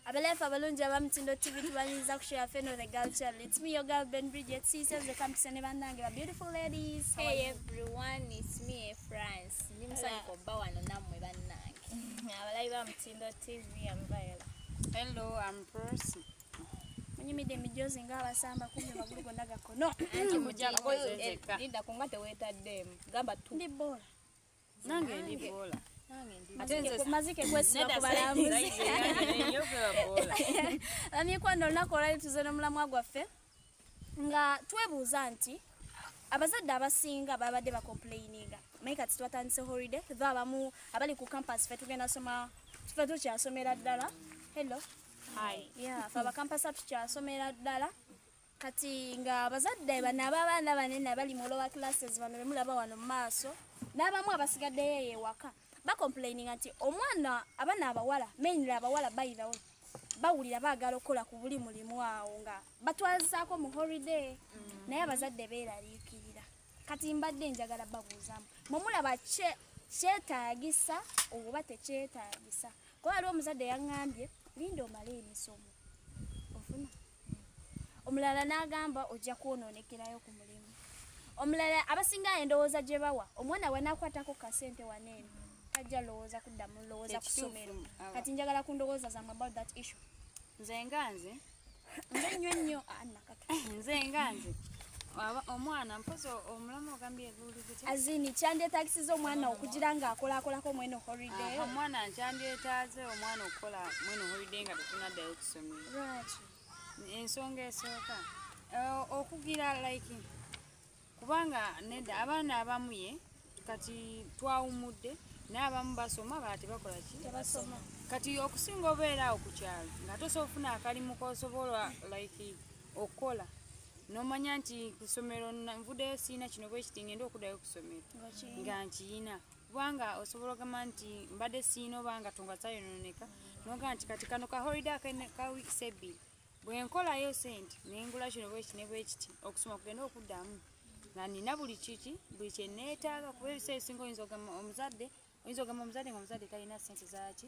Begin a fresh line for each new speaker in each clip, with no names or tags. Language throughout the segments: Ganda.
abaleefa abalungi abamutindo tv tubaniriza ku show yaffe no the girl channel it's me your girl ben bridget siise nze kampisa ne bannange ba beautiful ladies hey everyone
it's me e france ndi musanyuka obba wano nammwe bannange abalabi ba
mutindo tv ambaela hello am
prosi munyumidde
emijozi nga abasamba kumbi amagulu gonna gakono nti
mujakolinda kunga tewetaddeemu gamba ndi boola
nange
ndi boola
mazike kwesiba ku balambuzi bamikwana olunaku olwali tuze n'omulamwa gwaffe nga twebuuza nti abazadde abasinga babadde bacomplaininga naye kati twatandise holiday tho abamu abali ku campus fe tugenda soma fe tukyasomera ddala hello
fe abakampasa
tukyasomera ddala kati nga abazadde bano ababaana banene abali mu lower classes bano bemulaba wano mu maaso n'abamu abasigaddeyo eyo ewaka bacomplaininga nti omwana abana abawala mainly abawala bayirawo bawulira baagala okukola ku buli mulimu awo nga batwazizaako mu holiday mm. naye abazadde beeraliikirira kati mbadde njagala babuuzamu mwemulaba kyetaagisa oba tekyetaagisa kuba waliwo omuzadde yaŋŋambye linda omale emisomo ofuna omulala n'agamba ojja kwonoonekerayo ku mulimu omulala abasinga endowooza gye bawa omwana wanakwatako kasente waneeno tajja lowooza kudda mu lowooza ku ssomero kati njagala ku ndowooza zamu about that issue nze nga
nze nze nnyo
nnyo anakatu ah,
nze nga nze omwana mpozi omulamu ogambye azini kyandyetagisiza
omwana okugira nga akolakolako mwene holiday omwana nkyandyetaaze
omwana okukola mwene holiday nga tetunaddayo ssomero
lwaki ensonga
esooka eh, okugira like kubanga nedda abaana abamu ye kati twawumudde naye abamu basoma bala tebakola ki tebasoma kati
okusinga
obeera awo ku kyalo nga tosobola ofuna akalimu kosobola like okukola nomanya nti kusomero nvudeyo siina kino bwekiti ngenda okudayo kusomero nga nkiyina kubanga osobola ogamba nti mbadde siina oba nga tunga zayononeka noga nti kati kano ka holiday ka weeks ebbiri bwe nkolayo sente ne ngula kino bweki ne bwekiti okusoma kugenda okuddamu nga nina buli kiki buli kye neetaaga kuba ebiseera ebisinga oyinza ogamba omuzadde oyinza ogamba omuzadde nga omuzadde talina sente zaki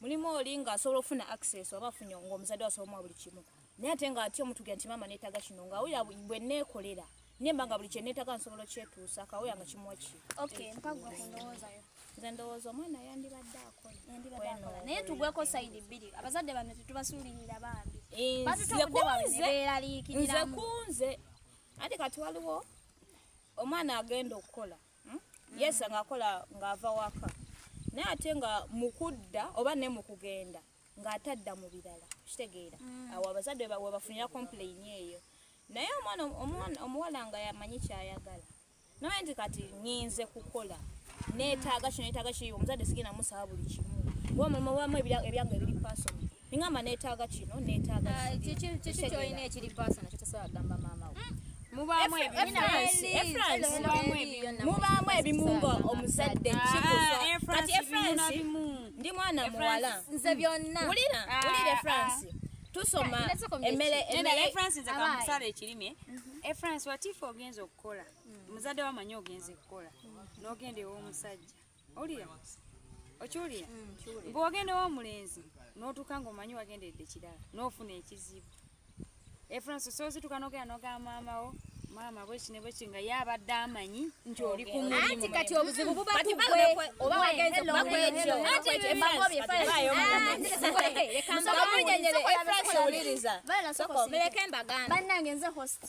mulimu oli nga asobola okufuna access oba afunye nga omuzadde wasobola buli kimu naye ate nga ati omutugera nti maama neetaga kino nga awulira bwe neekolera nemba nga buli kyeneetaga nsobola okyetuusa kawulira nga kimuwa ki okay mpagwa
kundowoozayo nze ndowooza
omwana yandibadde akola naye tugweko
sayidi bbiri abazadde bano tetubasuulirira bambi eh, batutuudewaeeraliikiriramu
nze kunze ate kati waliwo omwana agenda okukola hmm? yes nga akola nga ava waka naye ate nga mukudda oba ne mukugenda nga atadda mu birala kitegeera hmm. awo abazadde webafunira complain eyo naye omwana omuwala nga yamanyi kyayagala naye nti kati nyinze kukola netaaga kino netaaga kiyo omuzadde sigenda musaba buli kimu oba omulimu wamu ebyange ebiri pasoni Ningamba netaaga kino, netaaga ah, kino. Kiki kiki kyoyina
ekiri paasa nakyo tasobola kugamba maama we. Mm.
Mubaamu ebimu nga omuzadde ah, kikusa. Kati Efransi ndi mwana muwala. Nze byonna.
Wulira, wulira Efransi.
Ah, tusoma emmere emmere Efransi nze kamusala
ekirime. Mhm. Efransi watifu ogenze okukola. Mm. Muzadde wamanyi ogenze kukola. Mm. N'ogenda ew'omusajja. owulira okiwulira mm, mbu wagenda wa omulenzi n'otuuka ng'omanyi wagenderedde kirala n'ofuna ekizibu efransi soozituka nogera noga maamawo maama bwekine bweki nga ye abadde amanyi nti oli ku mulimu kati obuzibu buba
kugwe oba wagenze
kuba
kwekyo banange nze hosti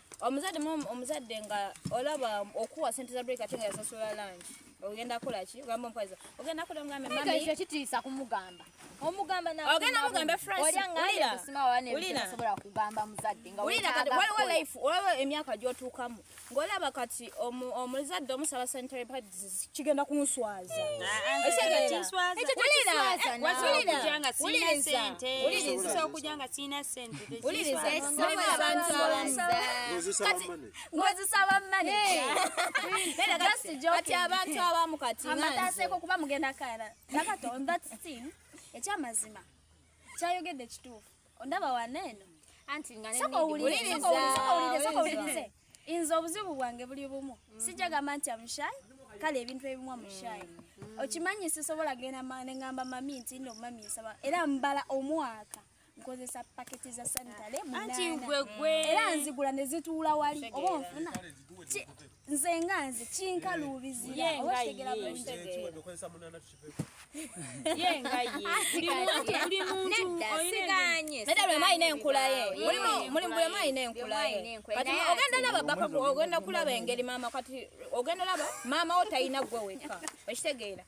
omuzadde mu omuzadde nga olaba okuwa sente za break ate nga yasasula lunch ogenda kola ki ogamba omukazi ogenda kola ngambe mami ekyo kitiisa kumugamba
omugamba na ogenda mugamba france olya
ngaya kusima wane
ulina sobola kugamba muzadde nga ulina kati wali wa life
olaba emyaka gyotuukamu ngolaba kati omuzadde omusaba sente kigenda kunswaza
ngozisaba manekati
abantu abamu katiamataseko kuba mugenda
kara nakatonda ekyamazima kyayogedde kituufu ondaba waneno anti nga
nendiwuliriza
inze obuzibu bwange buli bumu mm. sijja gamba nti amushayi kale ebintu ebimu amushayi mm. mm. okimanyi sisobola genda nengamba mami nti no mami nsaba era mbala omwaka nkozesa paketi za sanitale munana era nzigula nezituula wali oba onfuna nze nga nze kinkaluubizira oba kitegera
bulungiolina enkulaye mulimulimualina enkulaye kati ogenda laba baka ogenda kulaba engeri maama kati ogenda laba maama wo talina gwe weka okitegeera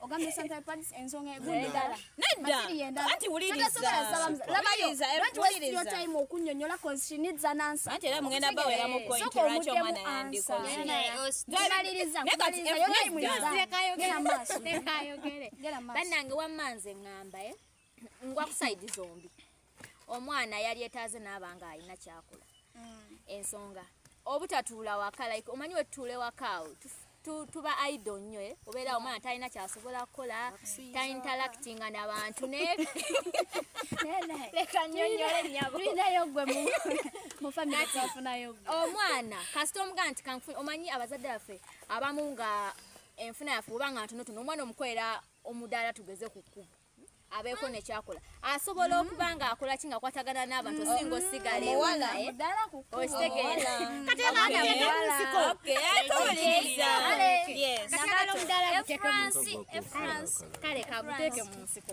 ogambye central parts ensonga egunedala nedda
anti wulirizawulirizaokunyonyola
okunyonyola cause she needs an answer anti era mugenda bawera mu
point lwaki omwana yandikolnaye
kati banange wamma nze ngamba eh? ngwa kusayidi zombi omwana yali etaaze naaba nga alina kyakula mm. ensonga obutatuula waka like omanyi wetutuule wakaawo tuba ido nnyo eh? obeera omwana talina kyasobola kukola tainteractinga nabantu
omwana
kasita omuga nti kanfuni omanyi abazadde baffe abamu nga enfuna yaffe oba nga ntonotono omwana omukolera omudaala tugeze ku kkubo abeeko nekyakola asobola mm. okuba nga akola ki nga kwatagana n'abantu mm. osinga osigala ewaekale
kaguteeke mu nsiko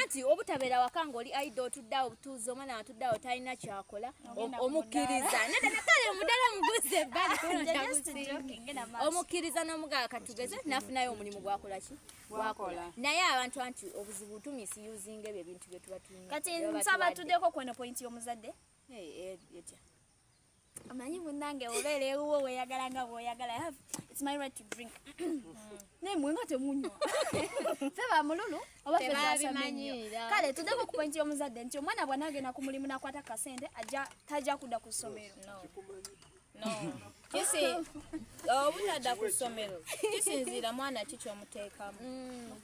anti
obutabeera waka ngaoli aida otuddeawo obutuuzi omwana watuddeawo talina kyakola omukkiriza nedakale mudala muguze omukkiriza nomugaa katugeze nafunayo omulimu gwakolaki gwakola naye abantu anti obuzibu tumisi usinga ebyo ebintu byetuba tuina kati nsaba
tuddeko kweno pointi yomuzadde eh, eh, amanyi munange obeera ewuwo weyagala nga bwoyagala its my right to drink naye mwe nga temunywa fe bamululu oba feasamanyira kale tudemu ku pointi y'omuzadde nti omwana bwana agenda ku mulimu nakwata kasente aja taja kudda ku ssomero obutadda
ku ssomero kisinziira mwana ki kyomuteekamu mm.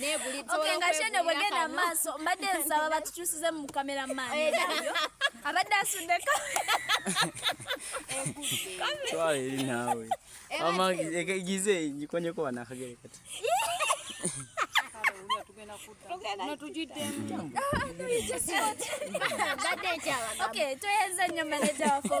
negulitngakyeno bwegenda
mumaaso mbadde nsaba batukyusize mu kamera maani abadde asudde
twala eri naawe amagize ngikonyeko wanakagere kati
toyenza nyo maneja waffe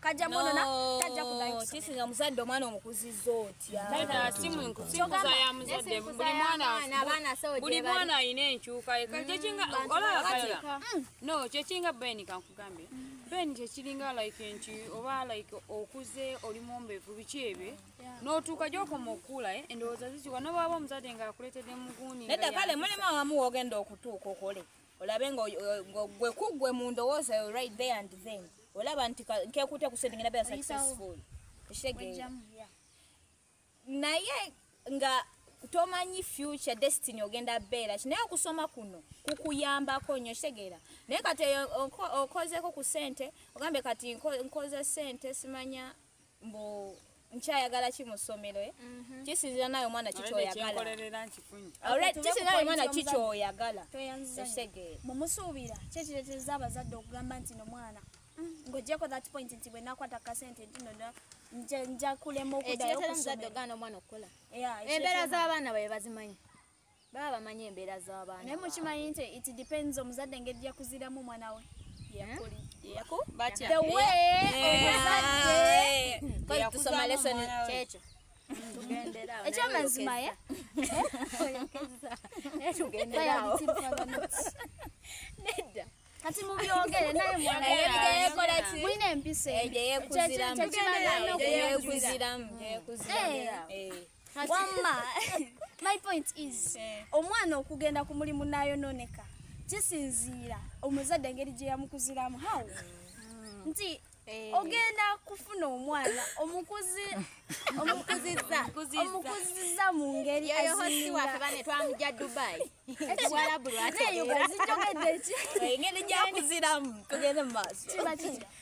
kajja mwonona tajja kudayokisinga muzadde omwana
omukuzizza
otyabuli mwana alina enkyuka kyekinga mm. ben kankugambye ben kyekiringa like nti oba like okuze oli mumbevu biki ebye notuuka gyokoma okuula eh, endowooza zikiwa nobwaba omuzadde ngaakuletedde muguuni nedda kale mulimu awamu
wogenda okutuuka okole olabe nga gwe kugwe mu ndowooza yo right there and then olaba nti nkekuute ku sente ngenda bea successful ekitegeera naye nga tomanyi future destiny ogenda beera ki naye okusoma kuno kukuyambako nnyo kitegeera naye kati okozeeko ku sente ogambye kati nkoze sente simanya mbu nkyayagala ki mu ssomero eh? mhm. kisinzira naye omwana kikyoyagalakisinzira naye omwana kikyoyagala mumusuubira
kyekiretereza abazadde okugamba nti nomwana mm, ngojeko that point nti bwenakwata kasente ntino njakulema okudayo
okusomero embeera z'abaana baye bazimanyi baba bamanyi embeera z'abaana naye mukimanyi nti it
depends omuzadde engeri gyakuziramu omwana we
ekyamazima
ye
nedda kati mubyogere naye mwanamulina empiso eyo gyeyekuziramu wamma my point is eh. omwana okugenda ku mulimu nayononeka kisinziira omuzadde engeri gye yamukuziramu how mm. nti eh. ogenda kufuna omwana omukuzi omukuziza mu ngeri
twamugya dubai ekiwalabu lwakiyogedde
ki engeri gyakuziramu
tugende mu maaso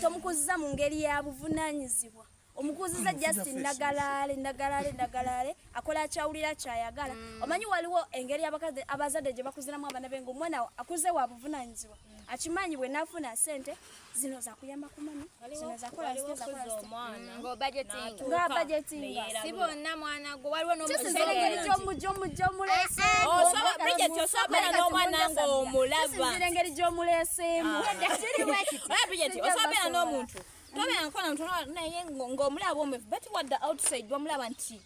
tomukuziza mu ngeri ya buvunaanyizibwa omukuziza just nagalaale nagalaale nagalaale akola akyawulira kyayagala mm. omanyi waliwo engeri abazadde gye bakuziramu abaana be ngaomwana akuze wa buvunaanyizibwa akimanyi bwe nafuna sente zino zakuyamba kumani zino zakola zino zakola si bonna
mwana gwe
waliwo
n'omwana ng'omulabakiri engeri gy'omuleeseemu osobeera n'omuntu tobeera nkola ntu naye ng'omulaba omwefu bati wadde outside wamulaba nti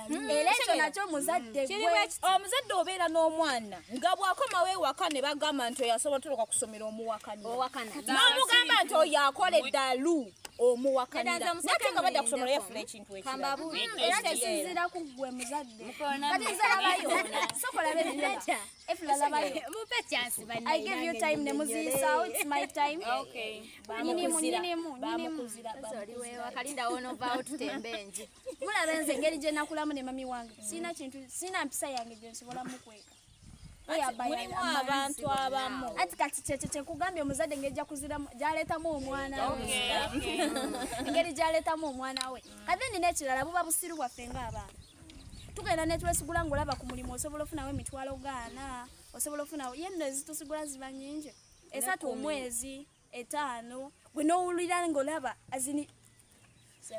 Mm, era ekyo nakyo
muzadde mm. omuzadde
obeera n'omwana nga bwakomawo ewaka ne bagamba nti oyo asobola toloka kusomera omuwakaniranomugamba nti oyo akola eddalu omuwakanira nate nga badda kusomero yafuna ekintu
ekiraekisinzira ku ggwe muzadde
mulaba nze engeri
gye nakulamu ne mami wange sirina kintu sirina mpisa yange gye nsobola mukweka mulimu
abantu abamu ati kati kyekyo
kyekugambye omuzadde engeri jakuziramu gyaleetamu omwana we engeri gyaleetamu omwana we kati ni nekirala buba busiru bwaffe ngaabaana tugenda netwesigula ngaolaba ku mulimu osobola ofunawo emitwalo gaana osobola ofunawo yenno ezitusigula ziba nyingi esatu omwezi etaano gwe nowulira ngaolaba azini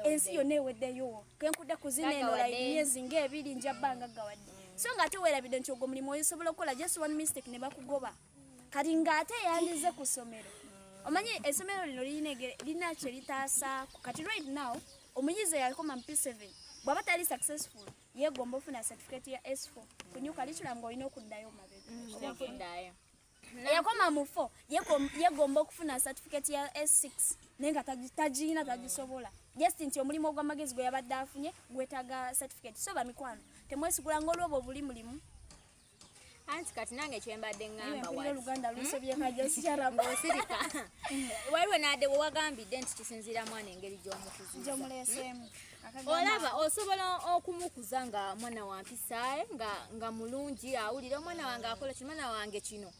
ensi yonna eweddeyo kenkudde kuzina enola emyezi ngaebiri njabba nga gawadde mm. so nga ate werabidde nti ogwo mulimu oyosobola okukola just one mistake ne bakugoba kati ngaate yandize ku ssomero mm. omanyi essomero lino lirina kye litaasaako kati right now omuyizi eyakoma mu p7 bwaba tali successful yegomba ofuna certificate ya s4 kunyuka litula nga olina okuddayo mabega mm, eyakoma mu fo yegomba okufuna certificate ya s6 naye nga tagiyina tagisobola just nti omulimu ogwamagezi gwe yabadde afunye gwetaga certificate so bamikwano temwesigula nga olwoba obuli mulimu
anti kati nange kyembadde ŋambaoluganda
lusobyekajosikyaramosirika
waliwo nadewe wagambidde nti kisinziira mwana engeri gyomukuzizomuleseemu
olaba
osobola okumukuza nga mwana wampisae nga nga mulungi awulire omwana wange akola ki mwana wange kino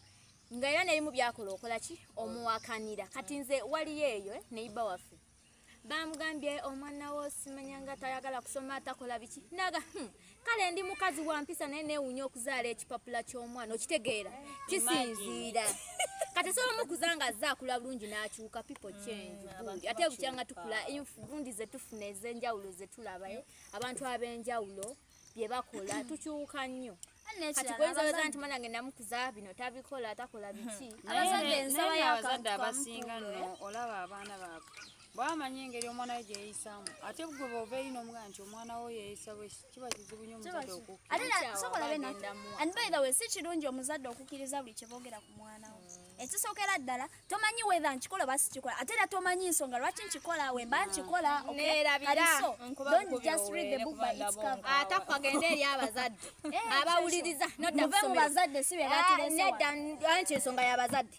nga era nebimu byakola okola ki omuwakanira kati nze waliyo eyo eh, neiba waffe bamugambye omwana wo simanya nga tayagala kusoma atakola biki naga hmm, kale ndi mukazi wa mpisa naye neewunya okuzaala ekipapula ky'omwana okitegeera kisinziira kati sobola mukuza nga azze akula bulungi n'akyuka pipo mm, change ate bukyanga tukula envundi ze tufuna ez'enjawulo ze tulaba eh? abantu ab'enjawulo bye bakola tukyuka nnyo kati goyinza weza nti mwana ngenda mukuza bino tabikola takola biki abazadde ensaba yakaabazadde
abasinga no olaba abaana baabwe bwamanya engeri omwana we gyeyisaamu ate gwe bova eri n'omugana nti omwana wo yeyisa bwe kiba kizibu nyo omuzadde okukkirizawe
si kirungi omuzadde okukkiriza buli kyeboogera ku mwana wo mm. ekisookera ddala tomanyi wetha nkikola oba sikikola ate era tomanyi nsonga lwaki nkikola we mba mm. nkikola atakagenda eri
abazadde eh, abawuliriza nove mu
bazadde si bebatinedda
ah, nti ensonga y'abazadde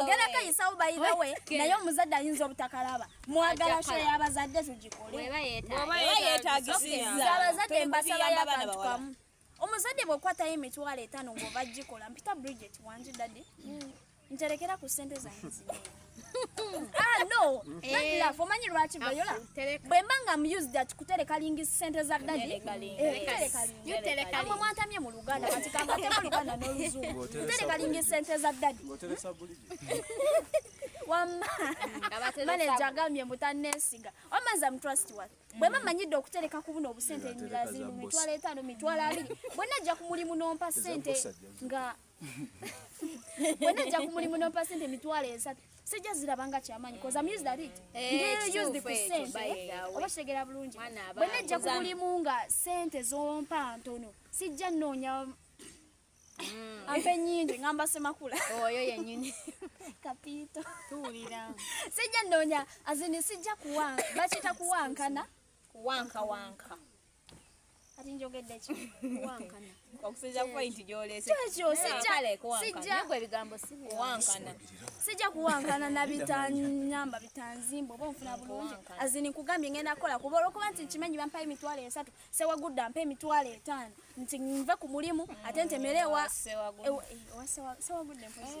ogera kayisawo bayibawe naye omuzadde ayinza obutakalaba mwagala sho yabazadde tugikoleabazadde embasaba yabantu kamu omuzadde bwekwatayo emitwalo etano ngaoba gikola mpita bridget wangi dadi mm. nterekera ku sente zange Ah, no eh. love omanyi lwaki vayola ah, bwemba nga mused ati kutereka lingi sente za dadiamwe mwantamye mu luganda katikangatema luganda noluzungu kutereka lingi sente za dadi wamma maneja agambye mutanesiga wamaza mutrust wat bwema manyidde okutereka ku buno obusente emirala ziri mu mitwalo etaano mitwalo abiri bwenna ajja ku mulimu nompa sente nga wena nja ku mulimu nompa sente emitwalo esatu sijja ziraba nga kyamanyi oba kitegera bulungi wena nja ku mulimu nga sente zompa ntono sijja nnoonya Mm. ampe nyingi ngamba semakula oyo yenyini
kapito
tuwulira
sijja ndonya
azini sijja kuwanka bakita kuwankana kuwanka wanka kati njogedde ki kuwankana okusinza ku point
gy'oleese kyekyo
sijjaegwe ebigambo siwankana sijja kuwankana na bitanyamba bitanzimba oba onfuna bulungi azini nkugambye ngenda kukola kuba olwokuba nti nkimanyi bampayo emitwalo esatu sewagudda mpa emitwalo etaano nti nve ku mulimu ate ntemere ewa sewagudde mpozi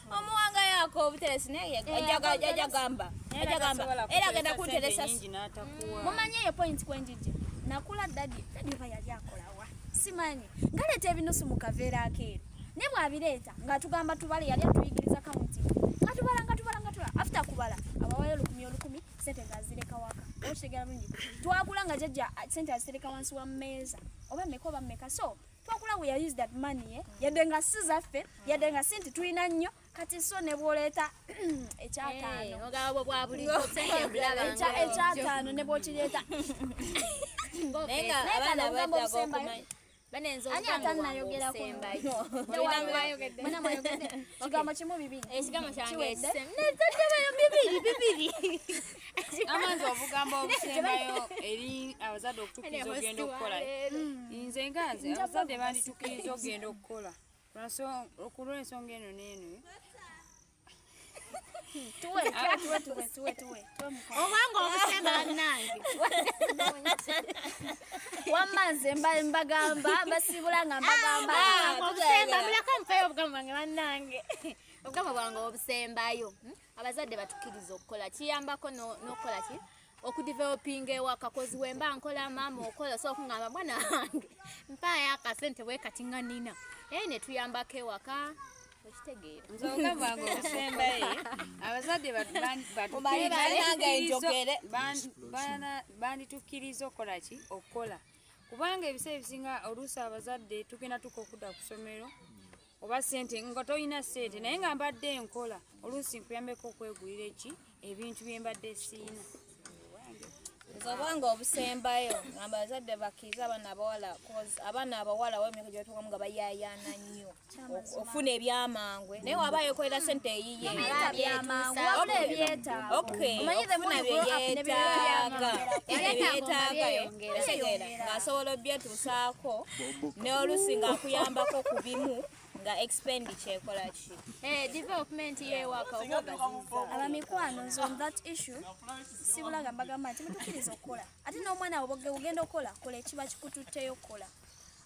omuwanga yako obuteresi naye eh, ajja gamba ajja gamba era agenda kunteresa mumanyi
eyo point kwenjijja nakula dadi dadi oba yali akolawa simanyi ngaleeta ebinusu mu kaveera akeeru naye bwabireeta ngaatugamba tubale yali atuyigiriza kaunti nga tubala nga tubala nga tubala afte kubala abawayo olukumi olukumi sente ngazireka waka okitegera bulungi twakula nga jajja sente azitereka wansi wa mmeeza oba meka oba meka so twakula we are used that money eh? yadde nga si zaffe yadde nga si nti tulina nnyo kati so ne bwoleeta ekyataanoekyataano ne bwokireeta kigambo kimu
bibiri
amanzi
obugambo obusembayo eri abazadde okutukiriza ogenda okukola nze nga nze abazadde banditukiriza ogenda okukola okulwensonga eno neeno
obanga
obusemba banange
wamma nze mbagamba mbasiibula nga mbagamba ah, obusemba
mulako mpeyo obugambo bwange banange obugambo bwange obusembayo hmm? abazadde batukiriza okukola kiyambako nokukola ki okudevelopinga ewaka kozi wemba nkola maama okola osobola kungamba mwana wange mpaayo akasente bwekati nga nina naye netuyambako ewaka
banditukiriza okukola ki okukola kubanga ebiseera ebisinga oluusi abazadde tugenda tuka okudda ku somero oba sente nga tolina sente naye nga mbadde enkola oluusi nkuyambeko okwegulira eki ebintu byembadde siina obanga
obusembayo ngamba bazadde bakkiriza abaana abawala abaana abawala wemyaka gyetukamu nga bayayana nnyo okufuna ebyamangu naye waba yekolera sente eyiye
okfuna
byeyetaaga ebyeyeetaaga ngasobola obyetu saako n'olusi ng'akuyambako ku bimu nga expendi kyekola ki eh, development
yewakaabamikwano nze
on that issue sibulaga mbagamba nti mutukiriza okukola ate n'omwana wo bogenda okukola kola ekiba kikututteyo okukola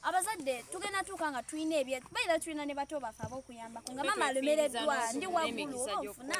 abazadde tugenda tuuka nga tulina ebye bayira tulina ne bato baffe abokuyambako nga mama alomereddwa ndi waggulu oba ofuna